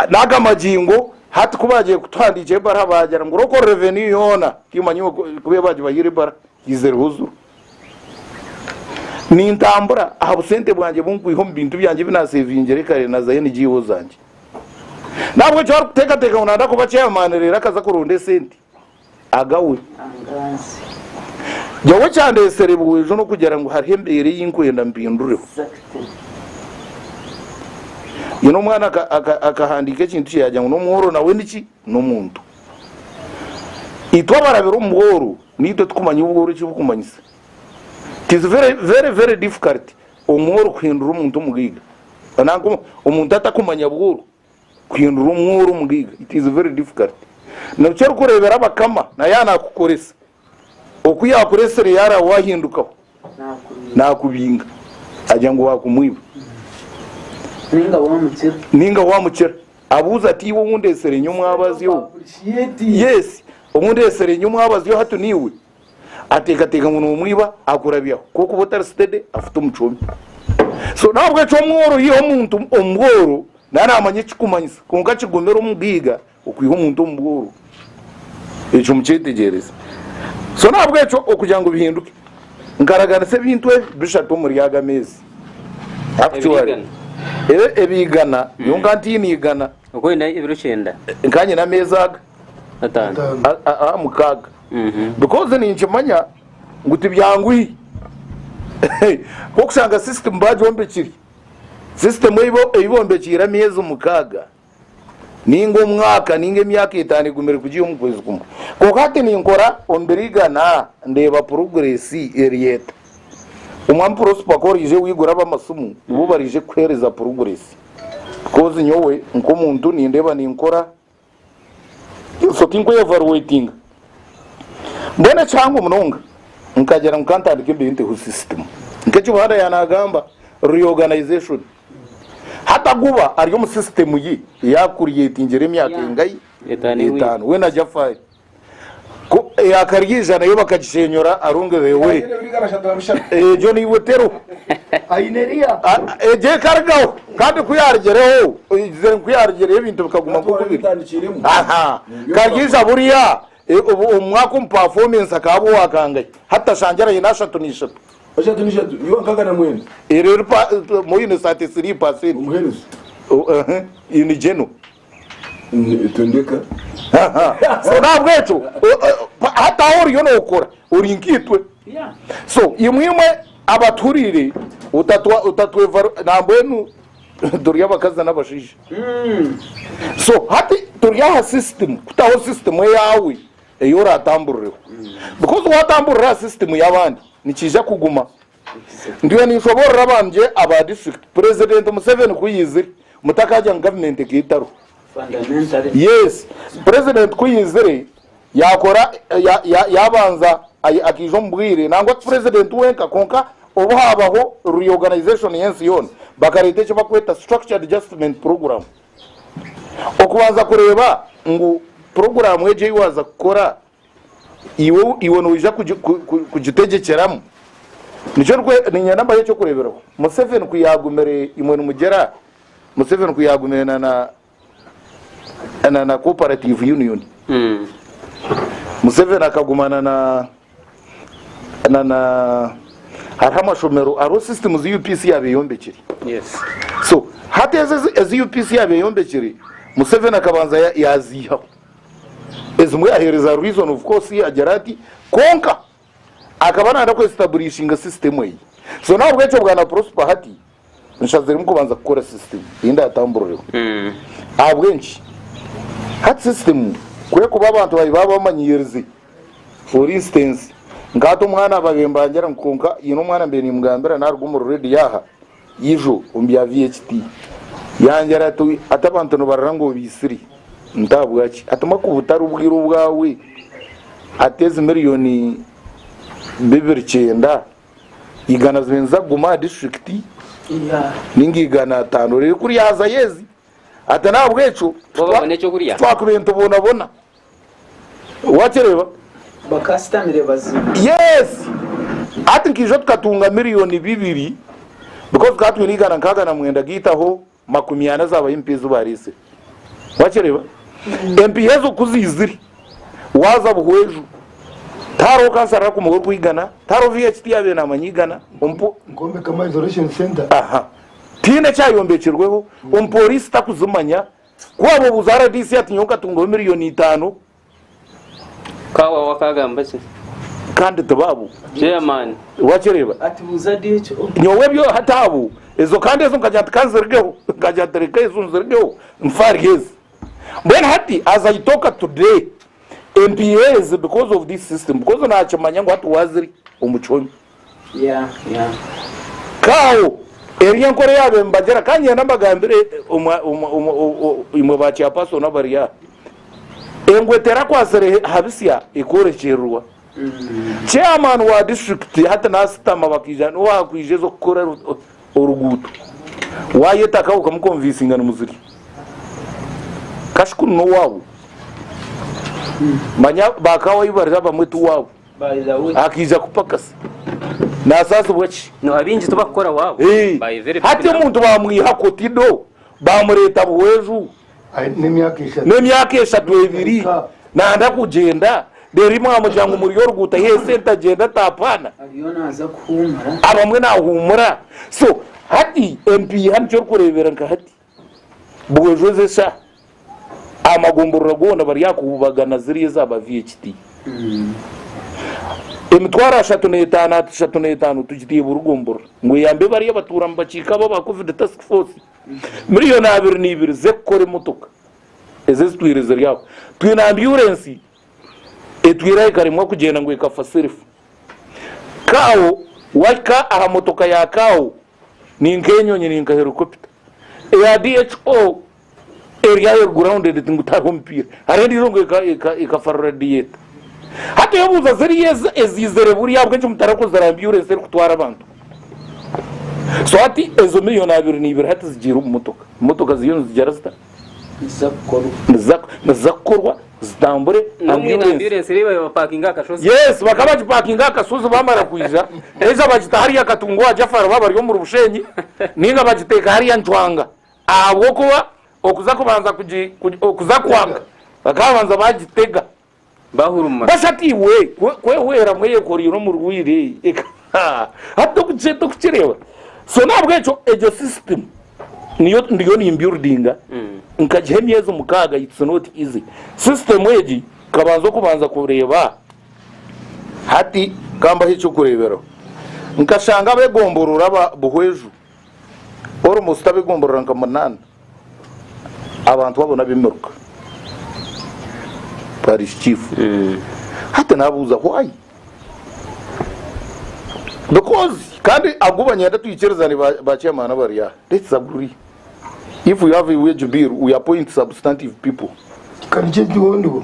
n'aga magingo hati ku baagiye kutuhandiikira ebara baagira ngu local revenue yoona timanyi ku ebagibahaire ebara yaizireho zuru. Nintambura aha busente bwangye bu nkwiha omu bintu byangye ebi naasevingire kare na za NGO zangye. Nahabw'ekyo arikuteekateeka ngu naayenda kuba chairman reero akaza kuronda esente, agawe. Nyowe ekyandeetsire bwengye n'okugira ngu hariho embeera ei nkwenda mpindureho. Nyine omwana akahandiika ekintu kye yaagira ngu n'omworo nawe niki? n'omuntu. Itwe abarabire omu bworo naitwe tukumanya obworo eki bukumanyisa. It is very very difficult omworo kuhindura omuntu omugaiga. Nanka omuntu atakumanya bworo kuhindura omworo omugaiga it is very difficult. Nabukya orikureebera abakama nayaanakukoresa. Oku yaakuretsire yaaraba waahindukaho naakubinga agira ngu waakumwiba. Ninga waamukira abuuza ati, Iwe ou ndeetsire nyowe omwabazi ou? Yes, ou ndeetsire nyowe omwabazi ou hati niiwe? Ateekateeka ngu noomwiba akurabyaho. Ku orikuba otari sitede afute omucwome. So n'ahabw'ekyo omworo yiha omuntu omu bworo naaba naamanya ekikumanyisa. Kwonka kigumire omugaiga Okwiha omuntu omu bworo, ekyo mukyetegyereze. So n'ahabw'ekyo okugira ngu bihinduke, nkaraganisa ebintu ebi bishatu omuri aga meezi. Actually, e, ebiigana, nyowe nka ntiine igana, Okuba oine ebiro kyenda. nka nyine ameezi aga, Ataano. Ataano. a- a- aha mukaaga. Because ninkimanya ngu tibyangwire. Nk'okushanga system baagyombekire. System ei bo- ei bombekyeire ameezi mukaaga. ninga omwaka ninga emyaka etaano egumire kugya omu kwezi kumwe kwonka hati ninkora omu biro igana ndeeba puroguresi eri eta omwami prosper ku orije wigura abamasimu nibo barije kukuhereza puroguresi bikozi nyowe nk'omuntu nindeeba ninkora so tinkwevaruwetinga mbwenu ekihango munonga nkagira ngu kantandike mbere nteho sisitimu nk'eki buhanda yanagamba reorganization Hati aguba ari omu sisitemu ye eyakuriyetingire emyaka engahi? Etaano. Weena aja afaayo. Ku eyakari eija nayo bakagishenyora arungi beewure. Egyo naiwe teroho. A- Egyo ekarigaho. Kandi ku yaarigireho, oyigize ngu ku yaarigireho ebintu bikaguma nk'oku biri. Aha. Kariija buriya e, obu- omu mwaka omupafomensi akaba owakangahe? Hati tashangira aine ashatu na ishatu. Eshatu n'eshatu, iwa nkaaga na mwenda. Eri eri pa mo yine sati siri pa siri. Omuheereza. Oh, ehe, yine jeno. Ni- Tondeka. Aha. So nahabwekyo o- o- pa- hati aho oriyo nokora ori nkaitwe Yeah. so imwe imwe abatuhuriire otatwa- otatwevaru nambwenu turi abakazi n'abashaija Mm. so hati turi aha system kutaho system eyaawe ei oraatambuurireho. Because waatambuurira aha system y'abandi, nikiija kuguma. Ndiyo ninshoboorora abangye aba district, President Museveni ku yaizire, mutakaagira ngu government egi etariho. Yes, President ku yaizire, yaakora, ya, ya, yaabanza ai- akaija omu bwire, nangwa ti President wenka, kwonka obu haabaho reorganization y'ensi yoona, bakareeta eki bakweta Structured Adjustment Programme. okubanza kureeba ngu puroguraamu egyo ei waaza kukora iwe noija kugitegyekeramu. Nikyo niinyenda mbahe eky'okureeberaho. Museveni ku yaagumire imwe nimugira Museveni ku yaagumire na Cooperative Union. Hmm. Museveni akaguma na na na hariho amashomero hariho sisitimu zi UPC yaaba eyombekire Yes. so hati ezi ezi- ezi UPC yaaba eyombekire Museveni akabanza ya- yaaziihaho ezimwe yaheereza reason of course yaagira ati kwonka akaba naayenda kwesitaburishinga sisitemu eyi so nahabwekyo bwana Prosper hati nshaziremu kubanza kukora sisitimu ei ndaatambuurireho. Ahabw'enki? Hati sisitimu ku erikuba abantu baayo baaba bamanyirize for instance nka hati omwana abaire mbangira ngu kwonka haine omwana mbaire niimugambira naaruga omuri reediyo aha ijo omu bya VHT yangira ati hati abantu nibarora ngu obaitsire nti ahabwaki? Hati mbwenu ku butari bwire obwawe hati ezi miriyoni bibiri kyenda igana zibanza kuguma aha disiturikiti ninga igana ataano reero ku ryazayo ezi ati n'ahabw'ekyo titwakubeento boonabona wakireeba yeesi hati nka ijo tukatunga miliyooni bibiri bikozi tukaba twine igana nkaaga na mwenda gaitu aho makumi ana zaabayo empiha ezi baariise. Waakireeba? Empiha ezo ku ziizire, waaza Buhweju, tihariho kansara arikumuha orikwigana, tihariho VHT yaabaire naamanya igana, omu Nkwombeka ama isolation center. aha tihaine eki ayombekirweho, omupooriisi takuzimanya. Ku waabuuza rdc ati nyowe nkatungaho miriyoni itaano, Ka waawe akaagamba ki? Kandi ti baabu. Chairman. Waakireba? Ati, Buuza Ddy ekyo. Nyowe ebyo hati abu, ezo kandi ezo nkagira nti ka nzirigeho. Nkagira nti reka ezo nzirigeho nfe ahari ezi. Mbwenu hati as I talk today, empiiha ezi because of this system, because naakimanya ngu hati waazirya omu kihome. Kaaho, eri y'enkora eya beene nibagira. Ka ngyenda mbagambire omwa, omwa, omwa, o, o, imwe ba chairperson abari aha. Engwe eterakwatsire he, ha bisya ekworekyerirwa. Chairman wa district hati nasitama bakaija niwe wakwija eza okukora ru- o- oruguuto. Wayeta ka okamukonvinsinga nimuzirya. Kashukuru n'owaabo. Manya ba Kaaho ahi bari abamwe ti waabo. akaija kupakasa nasaasibwa ki? Hati omuntu bamwiha koti do bamureeta Buhweju n'emyaka eshatu ebiri nanda kugyenda reero imwamugira ngu muri oruguuto ayiha esente agyende atapaana abamwe nahuumura so hati empiiha nikyo orikureebera nka hati. bwejwezesa aha magomborora goona bari aha kububagana ziriya eza Bavia ekiti. Emitwaro ashatu n'etaano ahati shatu n'etaano tugitiire Burugomborora ngu eyambe bariya abatuura mu bakiika abo aba Covid Task Force miriyoni abiri n'ibiri z'ekukora emotoka ezo ezitwire ziri aho. Twine ambyurensi etwire aho ekaremwa kugyenda ngu ekafa sirifu. Kaawo, wahika aha motoka ya kaawo Ni nk'enyonyi, ni nka herikopita eya DHO eri aho eri grounded, ngu tihariho omupiira. Hariho endiijo ngu ekafarura dieta. Hati oyebuuza ziriya ezi eziizire buri ahabw'enki mutari kuzira aha ambyurensi erikutwara abantu? So hati ezo milioni abiri na ibiri hati zigiire omu motoka, motoka ziriyo nizigyera zita? niziza kukorwa zitambure yes bakaba bagipakinga aha kashozi bamara kwija either bagita hariya katunga owa jafara baaba bari omuri bushenyi ninga bagiteeka hariya ncwanga ahabw'okuba okuza kubanza okuza kwanga bakaba babanza bagitega bahuruma. Bwashatu iwe kwehweramu eyekoreire omurwaire eka hati tokukireeba so nahabwekyo egyo system niyo ndiyo ni buildinga mm. nkagiha emyezi mukaaga it's not easy system egi kabanza okubanza kureeba hati kambaho ekyokureeberaho nkashanga abegomborora buhweju Orumwe osuta ab'egomborora nka munaana, abantu abo n'ab'emiruka. Parish chief. Hati nabuuza why? Because kandi agu banyenda twikirizane ba ba chairman abari aha. Let's agree. If we have a wage bill, we appoint substantive people. Kandi kyo kihondwo.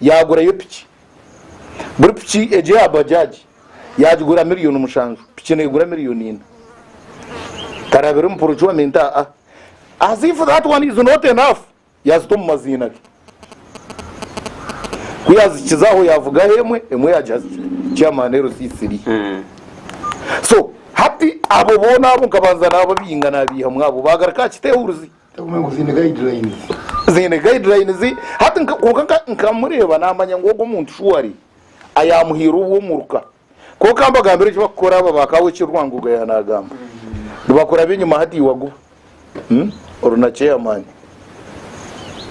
yaagurayo piki. Buri piki egyo ya Bajaj yaagigura miriyoni mushanju, piki neegura miriyoni ina. Karabira omu procurement a a as if that one is not enough, yaazita omu maziina ge. Ku yaazikiza aho yaavugaho emwe, emwe yaagiha Chairman LCC ri. So hati abo boona abo nkabanza naababinga naabaihamu abo baagaruka aha kiteehuruzi. ziine guidelines hati kwonka nkamureeba namanya ngu ogu omuntu shuwa ari ayamuhaire obwo omuruka kwonka kambagambire eki bakukora aba ba kawe eki Rwangoga ya nagamba nibakuraba enyuma hati iwaguba hmm? oru na chairman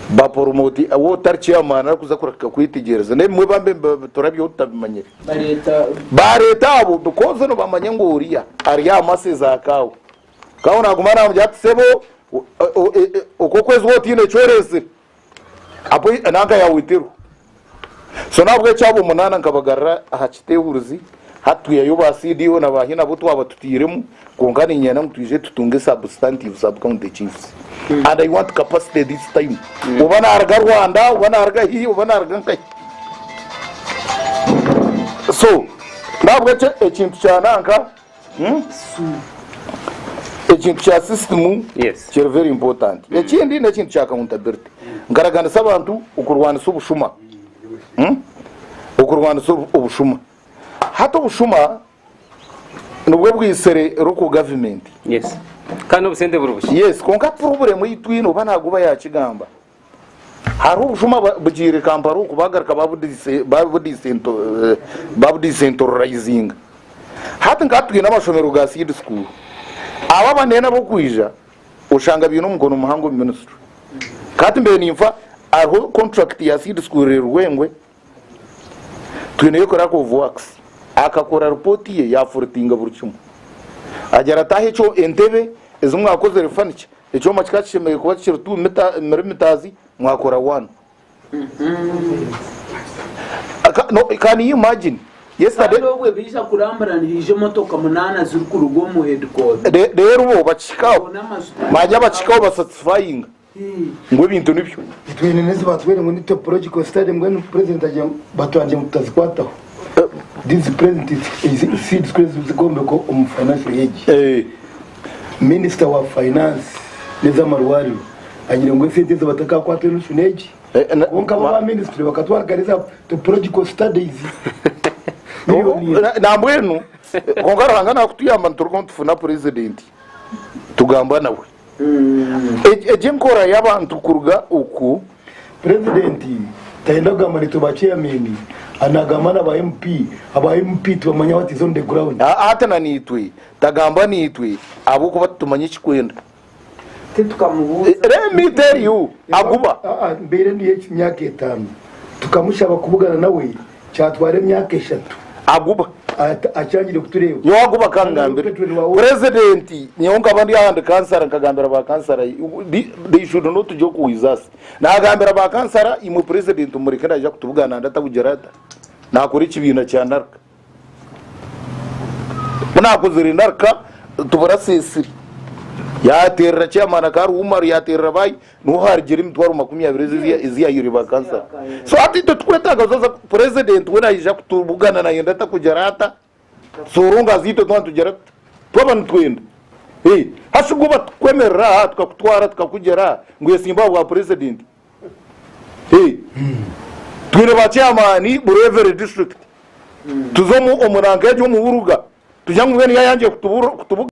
baporomoti awo otari chairman arikuza kureka kwetegyereza n'ebimwe bambe turabyeho tutabimanyire bareeta abo because nibamanya ngu oriya ari aha masezi akaawe Kaho naguma namugira ati sebo okwokwezi ho otiine kyorezire apo nanka yawitirwa so nabwekyo abo munana nkabagarira aha kitehuruzi hati twihayo ba CDO na ba hina abu twaba tutairemu kwonka ninyenda ngu twije tutunge substantive sub county chiefs hmm. and I want capacity this time hmm. oba naruga Rwanda oba naruga hi oba naruga nkahi so nabwekyo ekintu kyananka Ekintu kya sisitimu kiri very important. Ekindi n'ekintu kya accountability. Nkaraganisa abantu okurwanisa obushuma. Okurwanisa obushuma. Hati obushuma nibwo bwaitsire local government. Yes, kwonka tiburumu itwe noba naguba yakigamba. Hariho obushuma bugyeire Kampala oku baagaruka babudisentororaizinga. Hati nk'aha twine amashomero ga Seed School, abo abanene ab'okwija oshanga baine omukono muhango omu minisitule. Ka hati mbe ninfa hariho kontrakiti ya Seed School eri Rwengwe, twine yo crack of wax akakora report ye yafuritinga buri kimwe agira ati aho ekyo entebe ezi mwakozere furniture ekyoma kikaba kishemereire kuba kikiri 2 mita- millimeters mwakora one Aka- no, can you imagine yesterday kandi obwe baija kurambura nihaija emotoka munaana zirikuruga omu headquarter Re- rero bo bakihikaho zoona amajuta manya bakihikaho basatisfyinga ngu ebintu nibyo. Itwine n'ezi baatubwire ngu ni topological study mbwenu president agire ngu batwangye ngu tutazikwataho. These present seeds ku ez'ombeko omu financial age. Minister wa finance n'ez'amarwariro agire ngu esente ezi batakakwata enu shuna egi kwonka bo ba ministry bakatwarikana eza topological studies. Nambwenu kwonka Ruhanga nakutuyamba niturugaho nitufuna president tugamba nawe. Egi enkora y'abantu kuruga oku purezidenti tayenda kugamba naitwe ba chairman anagamba na ba MP, aba MP tibamanya what is on the ground. Hati na naitwe tagambwa naitwe ahabw'okuba titumanya ekikwenda. Titukamubuuza. Let me tell you aguba. Mbeire ndiyo emyaka etaano tukamushaba kubugana nawe kyatwara emyaka eshatu Aguba. ata- akyangire kutureeba Nyowe agu bakangambira Petero niwe awo- president nyowe nkaba ndi ahandi kansara nkagambira ba kansara they- they should not joke with us nagambira ba kansara imwe president mumureke naija kutubugana nandi atabugira ata nakora ekibiina kya narka ku nakozire narka tubura sesire yaterera chairman akari umaru yaterera bayi Niho harigira emitwaro makumi abiri ezi yahairwe ba kansara. So hati itwe turikwetaaga zoza purezidenti we naija kutubugana nayenda ata kugira ata. So orongo aza itwe twaba nitugira tuta? Twaba nitwenda. Ee. Hasi bwo batukwemerera aha tukakutwara tukakugira aha ngu oyesimbe aha bwa purezidenti. Ee. Twine ba chairman buri every district. Tuza omu omu ranka egyo omu Buruga tugira ngu mbwenu yayangire kutubugana.